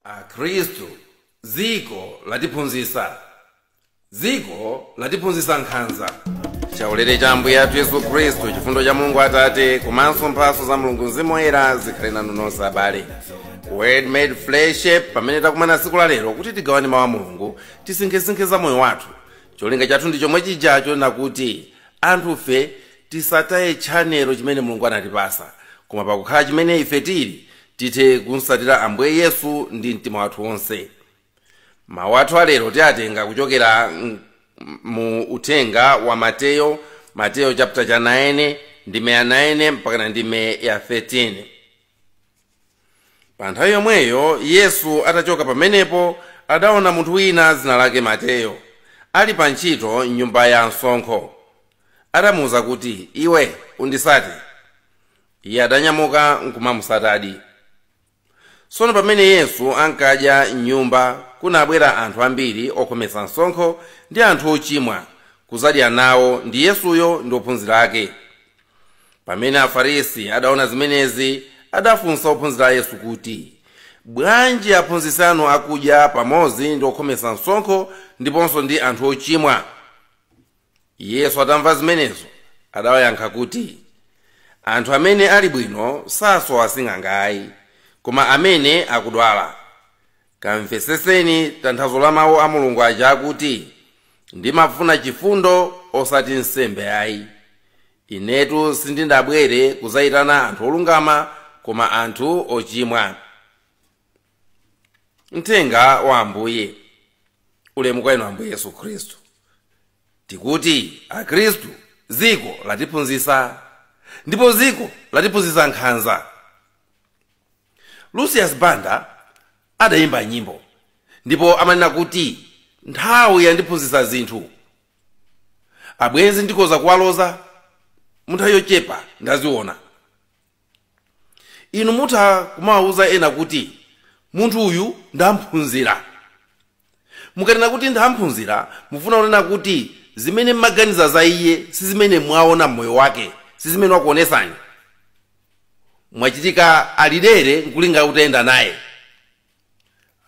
akhristu dziko latiphunzitsa dziko latiphunzitsa nkhanza chaulere cha ambuye athu yesu khristu chifundo cha mulungu atate komanso mphatso za mulungu mzimu woyera zikhale nanu nonse abale word made flesh pamene takumana tsiku la lero kuti tigawane mawu a mulungu tisinkhesinkhe za moyo wathu cholinga chathu ndi chomwe chijacho nakuti anthufe tisataye tchanelo chimene mulungu anatipasa koma pakukhala chimene ife tili tithe kumsatira ambuye yesu ndi mtima wathu wonse mawu athu alero tiwatenga kuchokera m- mu uthenga wa mateyo mateyo chapter cha 9 ndime ya 9 mpakana ndime ya 13 pa nthawi yomweyo yesu atachoka pamenepo adaona munthu wina dzina lake mateyo ali pa ntchito m'nyumba ya msonkho adamuwuza kuti iwe undisate iye adanyamuka nkumamusatadi tsono pamene yesu ankadya m'nyumba kunabwera anthu ambiri okhometsa msonkho ndi anthu ochimwa kuzadya nawo ndi yesuyo ndi ophunzira ake pamene afarisi adaona zimenezi adafunsa ophunzira a yesu kuti bwanji aphunzitsi anu akudya pamodzi ndi okhometsa msonkho ndiponso ndi anthu ochimwa yesu atamva zimenezo adawayankha kuti anthu amene ali bwino sasowa sing'anga ayi koma amene akudwala kamveseseni tanthauzo la mawu a mulungu aja akuti ndimafuna chifundo osati nsembe ayi inetu sindidabwere kudzayitana anthu olungama koma anthu ochimwa mthenga wa ambuye ulemu kwa inu ambuye yesu khristu tikuti akhristu dziko latiphunzitsa ndipo dziko latiphunzitsa nkhanza lucius banda adayimba nyimbo ndipo amanena kuti nthawi yandiphunzitsa zinthu abwenzi ndikhoza kuwaloza munthawi yochepa ndaziona inu mutha kumawawuza ena kuti munthu uyu ndamphunzira mukanena kuti ndamphunzira mufuna kunena kuti zimene mmaganiza za iye si zimene mwaona mmoyo wake si zimene wakuonesani mwachitika ali dere nkulinga utayenda naye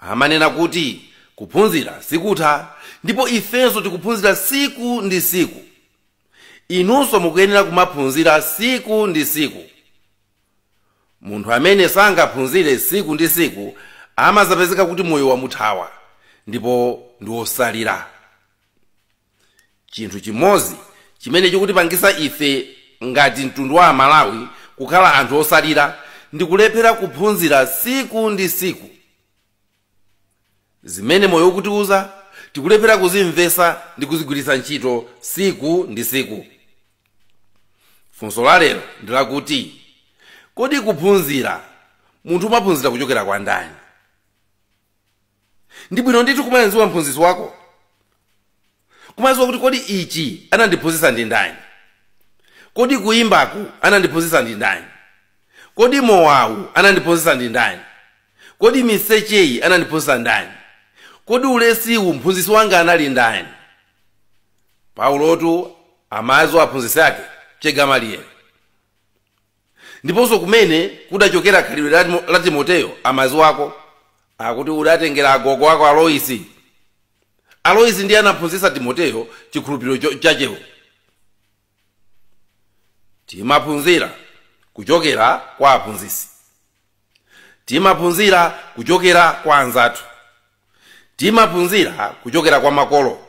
amanena kuti kuphunzira sikutha ndipo ifenso tikuphunzira siku ndi siku inunso mukuyenera kumaphunzira siku ndi siku munthu amene sangaphunzire siku ndi siku amazapezeka kuti moyo wamuthawa ndipo ndi wosalira chinthu chimodzi chimene chikutipangisa ife ngati mtundu wa amalawi kukhala anthu osalira ndi kulephera kuphunzira siku ndi siku zimene moyo ukutiuza tikulephera kuzimvetsa ndi kuzigwiritsa ntchito siku ndi siku funso la lero ndi lakuti kodi kuphunzira munthu umaphunzira kuchokera kwa ndani ndi bwino ndithu kumamuziwa mphunzitsi wako kumaziwa kuti kodi ichi anandiphunzitsa ndi ndani kodi kuyimbaku anandiphunzitsa ndi ndani kodi mowawu anandiphunzitsa ndi ndani kodi misecheyi anandiphunzitsa ndani kodi ulesiwu mphunzitsi wanga anali ndani paulotu amaziwa aphunzitsi ake che gamaliyeli ndiponso kumene kudachokera khalidwe la timoteyo amaziwako akuti udatengera agogo ako aloisi aloisi ndiye anaphunzitsa timoteyo chikhulupiriro chachewo timaphunzira kuchokera kwa aphunzitsi timaphunzira kuchokera kwa anzathu timaphunzira kuchokera kwa makolo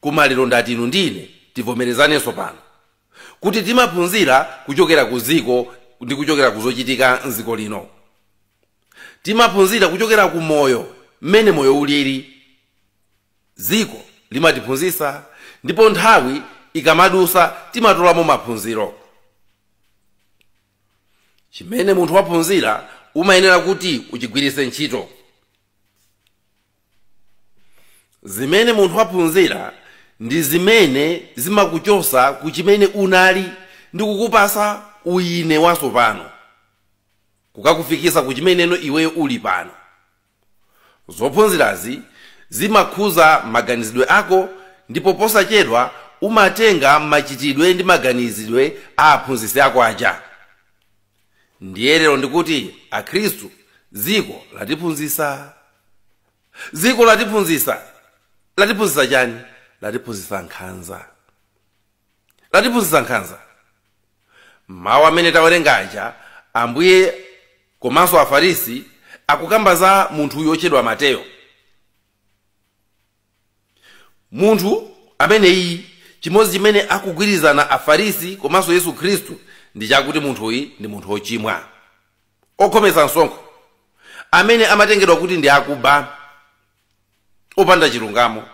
koma lero ndati inu ndi ine tivomerezanenso pano kuti timaphunzira kuchokera ku dziko ndi kuchokera ku zochitika mdziko lino timaphunzira kuchokera ku moyo mmene moyo ulili dziko limatiphunzitsa ndipo nthawi ikamadusa timatolamo maphunziro chimene munthu waphunzira umayenera kuti uchigwiritse ntchito zimene munthu waphunzira ndi zimene zimakuchosa ku chimene unali ndi kukupasa uyine watsopano kukakufikisa ku chimeneno iweyo uli pano Zophunzirazi zimakhuza maganizidwe ako ndipo posachedwa umatenga machitidwe ndi maganizidwe a aphunzitsi ako aja. Ndiye lero ndikuti Akhristu, dziko latiphunzitsa. Dziko latiphunzitsa. Latiphunzitsa chani? Latiphunzitsa nkhanza. Latiphunzitsa nkhanza. mawu amene tawerenga aja ambuye komanso afarisi akukamba za munthu uyu otchedwa mateyo munthu ameneyi chimodzi chimene akugwirizana afarisi komanso yesu khristu ndi chakuti munthuyi ndi munthu ochimwa okhometsa msonkho amene amatengedwa kuti ndi akuba opanda chilungamo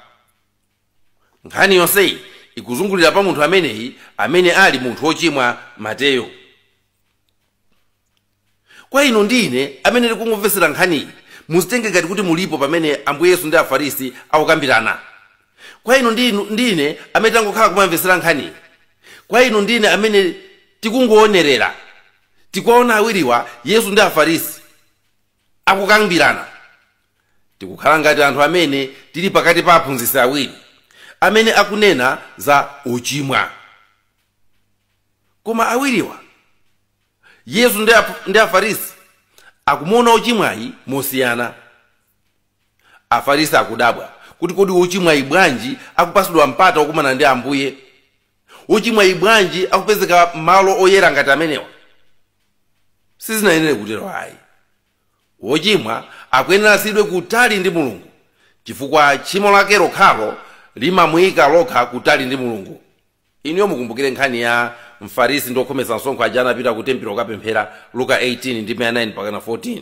nkhani yonseyi ikuzungulira pa munthu ameneyi amene ali munthu wochimwa mateyo kwa inu ndi ine amene tikungomvetsera nkhaniyi muzitenge ngati kuti mulipo pamene ambuye yesu ndi afarisi akukambirana kwa inu ndi inu- ndi ine amene tangokhala kumamvetsera nkhaniyi kwa inu ndi ine amene tikungoonerera tikuwaona awiriwa yesu ndi afarisi akukambirana tikukhala ngati anthu amene tili pakati pa aphunzitsi awiri amene akunena za uchimwa koma awiriwa yesu ndi ap- ndi afarisi akumuona ochimwayi mosiyana afarisi akudabwa kuti kodi ochimwayi bwanji akupasidwa mpata okumana ndi ambuye wochimwayi bwanji akupezeka malo oyera ngati amenewa sizinayenere kutero ayi wochimwa akuyenera asiyidwe kutali ndi mulungu chifukwa tchimo lake lokhalo limamuyika lokha kutali ndi mulungu inuyo mukumbukire nkhani ya mfarisi ndi okhometsa msonkho aja anapita ku tempilo kukapemphera luka 18 ndi 9 mpakana 14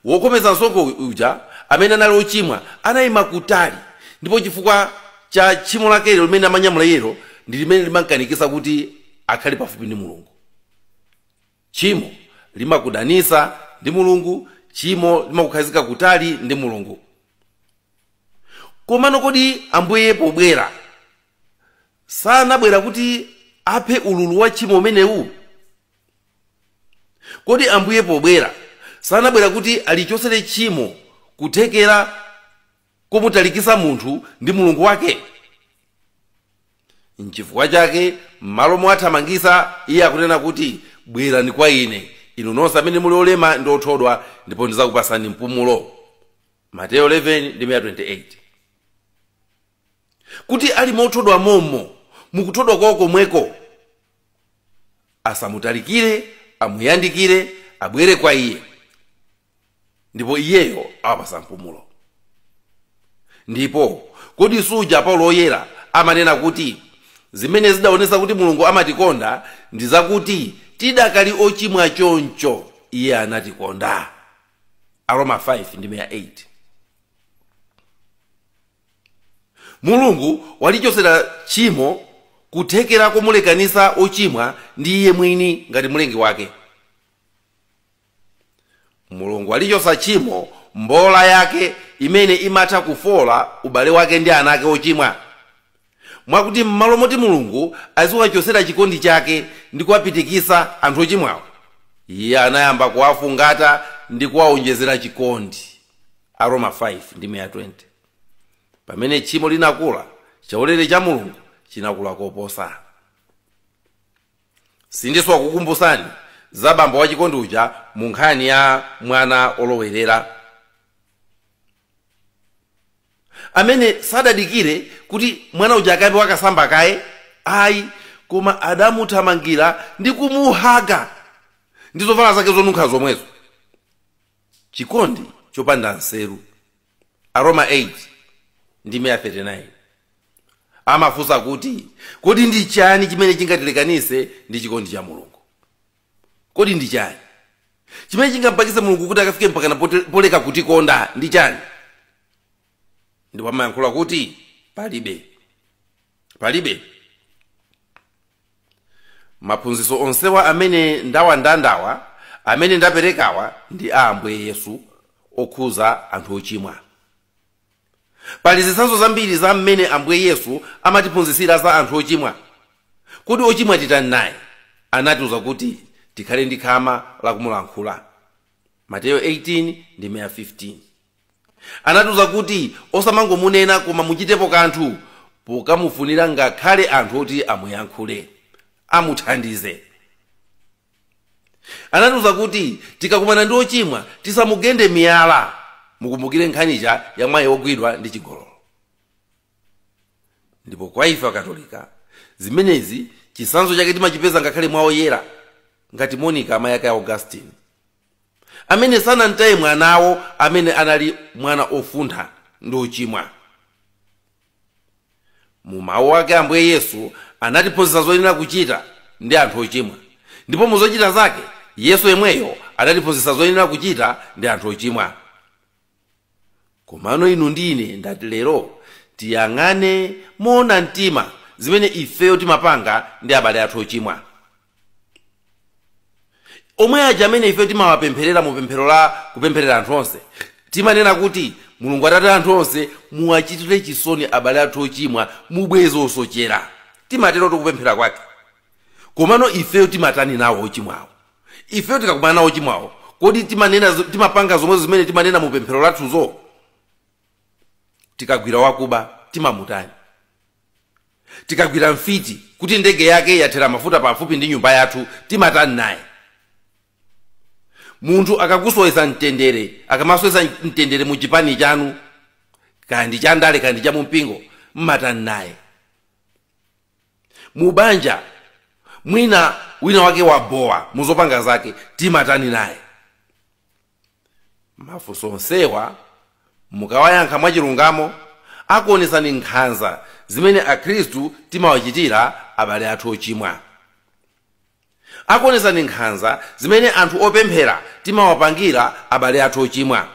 Wokhometsa msonkho uja, amene anali wochimwa, anaima kutali, ndipo chifukwa cha tchimo lakelo limene amanyamula iyelo ndi limene limamkanikitsa kuti akhale pafupi ndi Mulungu. Tchimo limakudanitsa ndi Mulungu, tchimo limakukhazika kutali ndi Mulungu. Komano kodi Ambuye pobwera sanabwera kuti aphe ululu wa tchimo umenewu? kodi ambuye pobwera sanabwera kuti alichosere tchimo kuthekera komutalikisa munthu ndi mulungu wake nchifukwa chake m'malo mowathamangisa iye akunena kuti bwerani kwa ine inu nonse amene muli olema ndi othodwa ndipo ndizakupasani mpumulo mateyo 11 ndi 28 kuti ali mothodwa momo mukuthodwa kwawo komweko asamutalikire amuyandikire abwere kwa iye ndipo iyeyo awapasa mpumulo ndipo kodi suja paulo woyera amanena kuti zimene zidaonesa kuti mulungu amatikonda ndi zakuti tidakali ochimwa choncho iye anatikonda aroma 5 ndi 8 mulungu walichosera tchimo kuthekera komulekanisa ochimwa ndi iye mwini ngati mlengi wake mulungu walichosa tchimo mbola yake imene imatha kufola ubale wake ndi ana ake ochimwa mwakuti m'malo moti Mulungu aziwachotsera chikondi chake ndi kuwapitikitsa anthu ochimwawo, iye anayamba kuwafungata ndi kuwawonjezera chikondi. Aroma 5 ndi 20. Pamene tchimo linakula, chaulere cha Mulungu chinakula koposa. Sindisowa kukumbutsani za bambo wachikondi uja mu nkhani ya mwana wolowerera. amene sadadikire kuti mwana uja akayambe wakasamba kaye ayi koma adamuthamangira ndi kumuhaga ndi zovala zake zonunkha zomwezo chikondi chopanda nseru aroma 8 ndi 39 amafunsa kuti kodi ndi chani chimene chingatilekanitse ndi chikondi cha mulungu Kodi ndi chani chimene chingampangitse mulungu kuti akafike mpakana poleka kutikonda ndi chani ndipo amayankhula kuti palibe palibe maphunziro onsewa amene ndawandandawa amene ndaperekawa ndi a ambuye yesu okhuza anthu ochimwa Pali zitsanzo zambiri za mmene Ambuye Yesu amatiphunzitsira za anthu ochimwa. Kodi ochimwa titani naye? Anatiuza kuti tikhale ndi khama la kumulankhula. Mateyo 18 ndi 15. Anatiuza kuti osamangomunena koma muchitepo kanthu pokamufunira ngakhale anthu oti amuyankhule, amuthandize. anatiuza kuti tikakumana ndi wochimwa tisamugende miyala mukumbukire nkhani ija ya mayi wogwidwa ndi chigololo ndipo kwa ife akatolika zimenezi chitsanzo chake timachipeza ngakhale mwa oyera ngati monica amayi ake a augustine amene sanamtaye mwanawo amene anali mwana ofuntha ndi ochimwa mu mawu ake ambuye yesu anatiphunzitsa zoyenera kuchita ndi anthu ochimwa ndipo mu zochita zake yesu yemweyo anatiphunzitsa zoyenera kuchita ndi anthu ochimwa komano inu ndi ine ndati lero tiyang'ane moona mtima zimene ifeyo timapanga ndi abale athu ochimwa omwe aja amene ifeyo timawapempherera mu pemphero la kupempherera anthu onse timanena kuti mulungu atate anthu onse muwachitire chisoni abale athu ochimwa mubweze osochera timatero tikupemphera kwake komano ifeyo timatani nawo ochimwawo ifeyo tikakumana nawo ochimwawo kodi timapanga zomwe zimene timanena mu pemphero lathuzo tikagwira wakuba timamutani tikagwira mfiti kuti ndege yake yathera mafuta pafupi ndi nyumba yathu timatani naye munthu akakusowetsa mtendere akamasowetsa mtendere mu chipani chanu kaya ndi cha ndale kaya ndi cha mumpingo mmatani naye mu banja mwina wina wake wabowa muzopanga zake timatani naye mafunso onsewa mukawayankha mwachilungamo akuonetsani nkhanza zimene akhristu timawachitira abale athu ochimwa akuonetsani nkhanza zimene anthu opemphera timawapangira abale athu ochimwa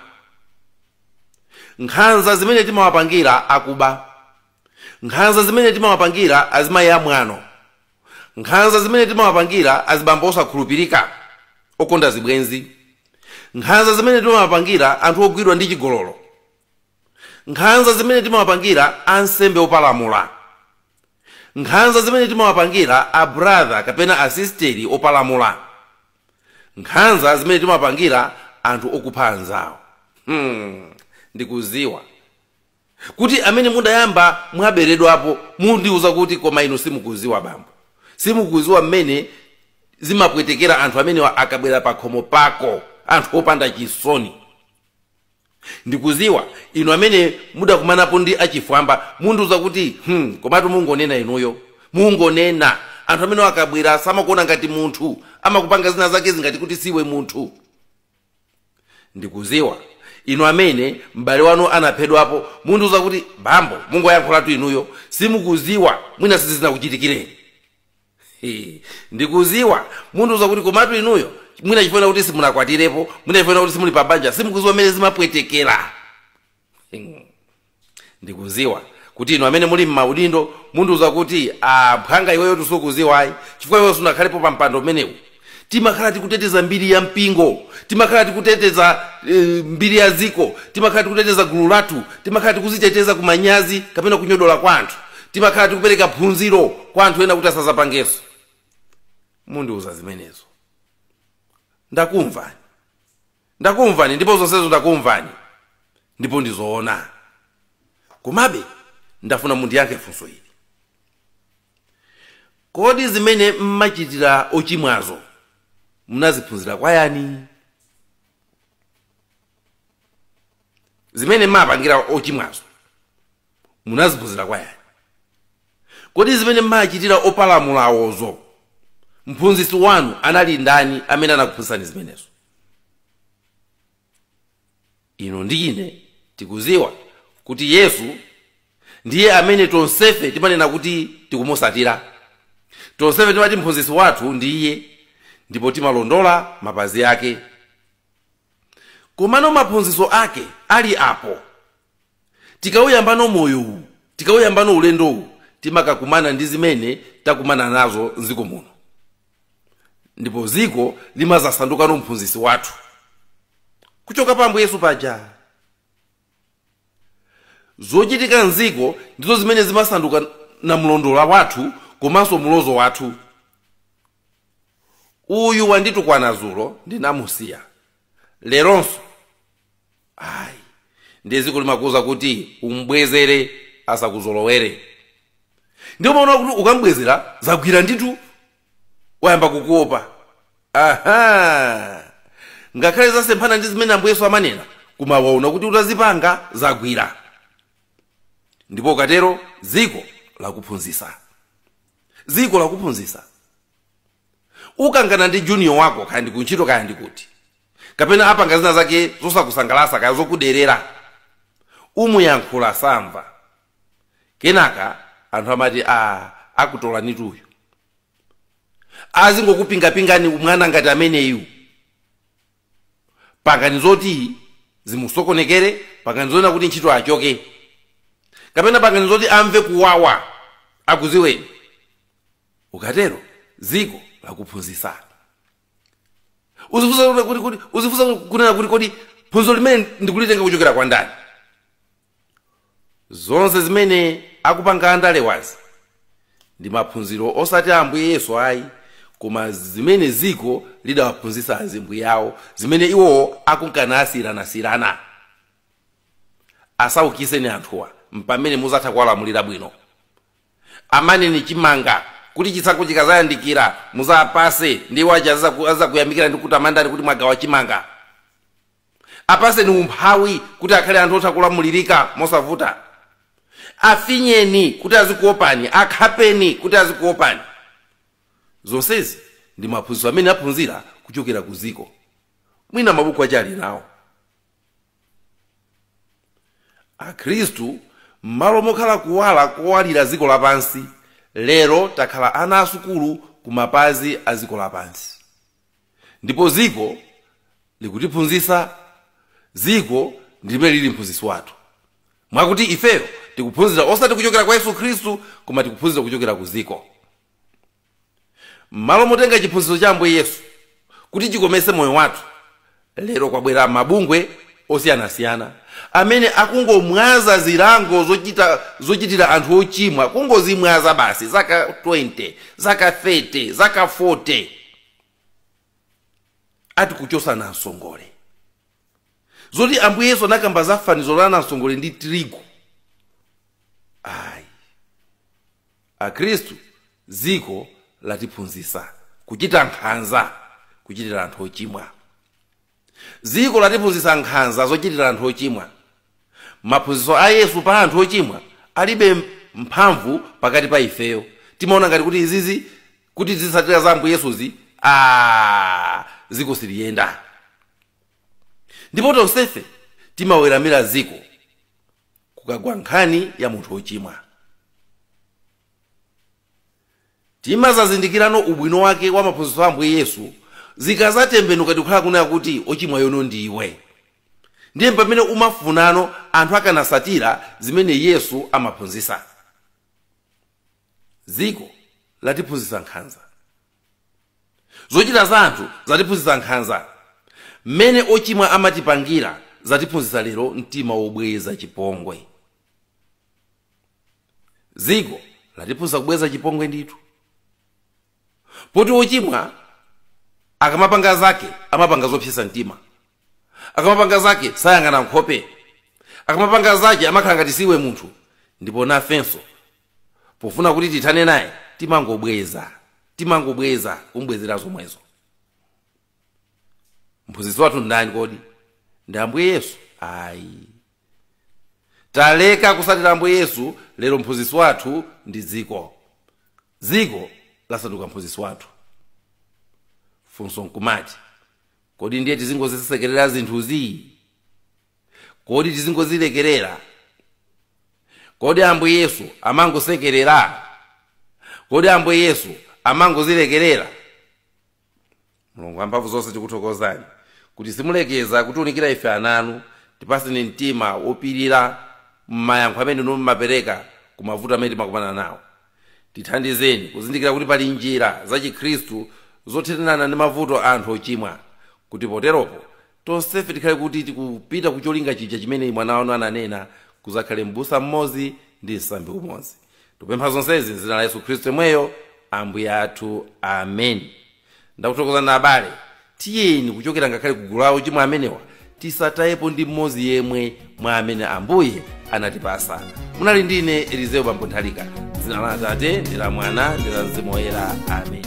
nkhanza zimene timawapangira akuba nkhanza zimene timawapangira azimayi amwano nkhanza zimene timawapangira azibambo osakhulupirika okonda zibwenzi nkhanza zimene timawapangira anthu ogwidwa ndi chigololo nkhanza zimene timawapangira ansembe opalamula nkhanza zimene timawapangira abrother kapena asisteri opalamula nkhanza zimene timawapangira anthu okupha anzawo hmm, ndikuziwa kuti amene mudayamba mwaberedwapo mundiuza kuti koma inu simukuziwa bambo simukuziwa mmene zimapwetekera anthu amenewa akabwera pakhomo pako anthu opanda chisoni ndikuziwa inu amene mudakumanapo ndi achifwamba mundiuza kuti hmm, komatu mungonena inuyo mungonena anthu amenewa akabwera samakuona ngati munthu amakupanga zina zake zingati kuti siwe munthu ndikuziwa inu amene m'bale wanu anaphedwapo mundiuza kuti bambo mungoyankhulatu inuyo simukuziwa mwina sizizinakuchitikireni He, ndikuziwa mundiuza kuti komatu inuyo mwina chifukwa kuti simunakwatirepo mwina chifukwa kuti simuli pabanja simukuziwa mmene zimapwetekera Hmm. ndikuziwa kuti inu amene muli mmaudindo mundiuza kuti ah, mphwanga iweyo tu sukuziwa ayi chifukwa iweyo sunakhalepo pa mpando umenewu timakhala tikuteteza mbiri ya mpingo timakhala tikuteteza eh, mbiri ya dziko timakhala tikuteteza gulu lathu timakhala tikuziteteza ku manyazi kapena kunyodola kwa anthu timakhala tikupereka phunziro kwa anthu ena kuti asazapangenso mundiuza zimenezo ndakumvani Ndakumvani ndipo zonsezo ndakumvani ndipo ndi zoona. Komabe ndafuna mundiyankhe funso ili. Kodi zimene mmachitira ochimwazo munaziphunzira kwa yani? Zimene mmapangira ochimwazo munaziphunzira kwa yani kodi zimene mmachitira opalamulawozo mphunzitsi wanu anali ndani amene anakuphunzitsani zimenezo inu ndi ine tikuziwa kuti yesu ndiye amene tonsefe timanena kuti tikumusatira tonsefe timati mphunzitsi wathu ndi iye ndipo timalondola mapazi ake komano maphunzitso ake ali apo tikauyambano moyo uwu tikauyambano ulendo uwu timakakumana ndi zimene takumana nazo mdziko muno ndipo dziko limazasandukano mphunzitsi wathu kuchoka pa ambuye yesu paja zochitika mdziko ndizo zimene zimasanduka namlondola wathu komanso mlozo wathu uyu wanditukwana zulo ndinamusiya leronso ayi ndiye dziko limakuuza kuti umbwezere asakuzolowere ndipo umaona kuti ukambwezera zagwira nditu wayamba kukuopa aha ngakhale zasemphana ndi zimene ambuye yesu amanena koma waona kuti utazipanga zagwira ndipo ukatero dziko lakuphunzisa dziko lakuphunzisa ukangana ndi junior wako kaya ndi kuntchito kaya ndi kuti kapena apanga zina zake zosakusangalasa kaya zokuderera umuyankhula samva kenaka anthu amati a akutolanitu uyu azingokupingapingani mwana ngati ameneyu pangani zoti zimusokonekere pangani zonena kuti ntchito achoke kapena pangani zoti amve kuwawa akuziweni ukatero dziko lakuphunzitsa uzi- uzifunsa kunena kuti kodi phunziro limene ndikulitenga kuchokera kwa ndani zonse zimene akupanga andalewazi ndi maphunziro osati a ambuye yesu ayi koma zimene dziko lidawaphunzitsa azimbuye awo zimene iwo akunka nasiyiranasiyirana asaukiseni anthuwa mpamene muzatha kuwalamulira bwino amaneni chimanga kuti chisankho chikazayandikira muzapase ndi iwo aja azakuyamikira ndi kutamandani kuti mwagawa chimanga apaseni umphawi kuti akhale anthu otha kulamulirika mosavuta afinyeni kuti azikuopani akhapeni kuti azikuopani zonsezi ndi maphunziro amene aphunzira kuchokera ku dziko mwina mabuku aja ali nawo akhristu m'malo mokhala kuwala kowalira dziko lapansi lero takhala ana asukulu ku mapazi a dziko lapansi ndipo dziko likutiphunzitsa dziko ndi limene lili mphunzitsi wathu mwakuti ifeyo tikuphunzira osati kuchokera kwa yesu khristu koma tikuphunzira kuchokera ku dziko m'malo motenga chiphunzitso cha ambuye yesu kuti chikometse moyo wathu lero kwabwera mabungwe osiyanasiyana amene akungomwaza zilango zochitira anthu ochimwa kungozimwaza basi zaka 20 zaka 30 zaka 40 ati kuchosa namsongole zoti ambuye yesu anakamba za fanizo la namsongole ndi tirigu ayi Akhristu, dziko latiphunzitsa kuchita nkhanza kuchitira anthu ochimwa. Dziko latiphunzitsa nkhanza zochitira anthu ochimwa. Maphunzitso a Yesu pa anthu ochimwa alibe mphamvu pakati pa ifeyo. Timaona ngati kuti izizi kuti tizitsatira za Ambuye Yesuzi, aa, dziko siliyenda. Ndipo tonsefe timaweramira dziko. kukagwa nkhani ya munthu wochimwa timazazindikirano ubwino wake wa maphunzitso a ambuye yesu zikazatembenuka ndikukhala kunena kuti wochimwayo no ndiwe ndiye pamene umafunano anthu akanasatira zimene yesu amaphunzitsa dziko latiphunzitsa nkhanza zochita za anthu zatiphunzitsa nkhanza mmene ochimwa amatipangira zatiphunzitsa lero mtima wobweza chipongwe dziko latiphunzitsa kubweza chipongwe ndithu poti ochimwa akamapanga zake amapanga zopsesa mtima akamapanga zake sayang'ana nkhope akamapanga zake amakhala ngati siwe munthu ndipo nafenso pofuna kuti tithane naye timangobweza timangobweza kumbwezera zomwezo mphunzitsi wathu ndani kodi ndi ambuye yesu ayi taleka kusatira ambuye yesu lero mphunzitsi wathu ndi dziko dziko lasanduka mphunzitsi wathu funso nkumati kodi ndiye tizingozisekerera zinthuzi kodi tizingozilekerera kodi ambuye yesu amangosekerera kodi ambuye yesu amangozilekerera mulungu wamphamvu zonse tikuthokozani kuti simulekeza kutiunikira ife ana anu tipaseni mtima wopirira m'mayankho amene inu mumapereka ku mavuto amene timakumana nawo tithandizeni kuzindikira kuti pali njira zachikhristu zothanirana ndi mavuto anthu ochimwa kuti poteropo tonsefe tikhale kuti tikupita ku cholinga chija chimene mwana wanu ananena kudzakhale m'busa mmodzi ndi msambi umodzi tikupempha zonsezi m'dzina la yesu khristu yemweyo ambuye athu ameni ndakuthokozani abale tiyeni kuchokera ngakhale ku gulu la ochimwa amenewa tisatayepo ndi mmodzi yemwe mwa amene ambuye anatipasa munali ndine elizeo bambo nthalika dzina la atate ndi la mwana ndi la mzimu woyera ameni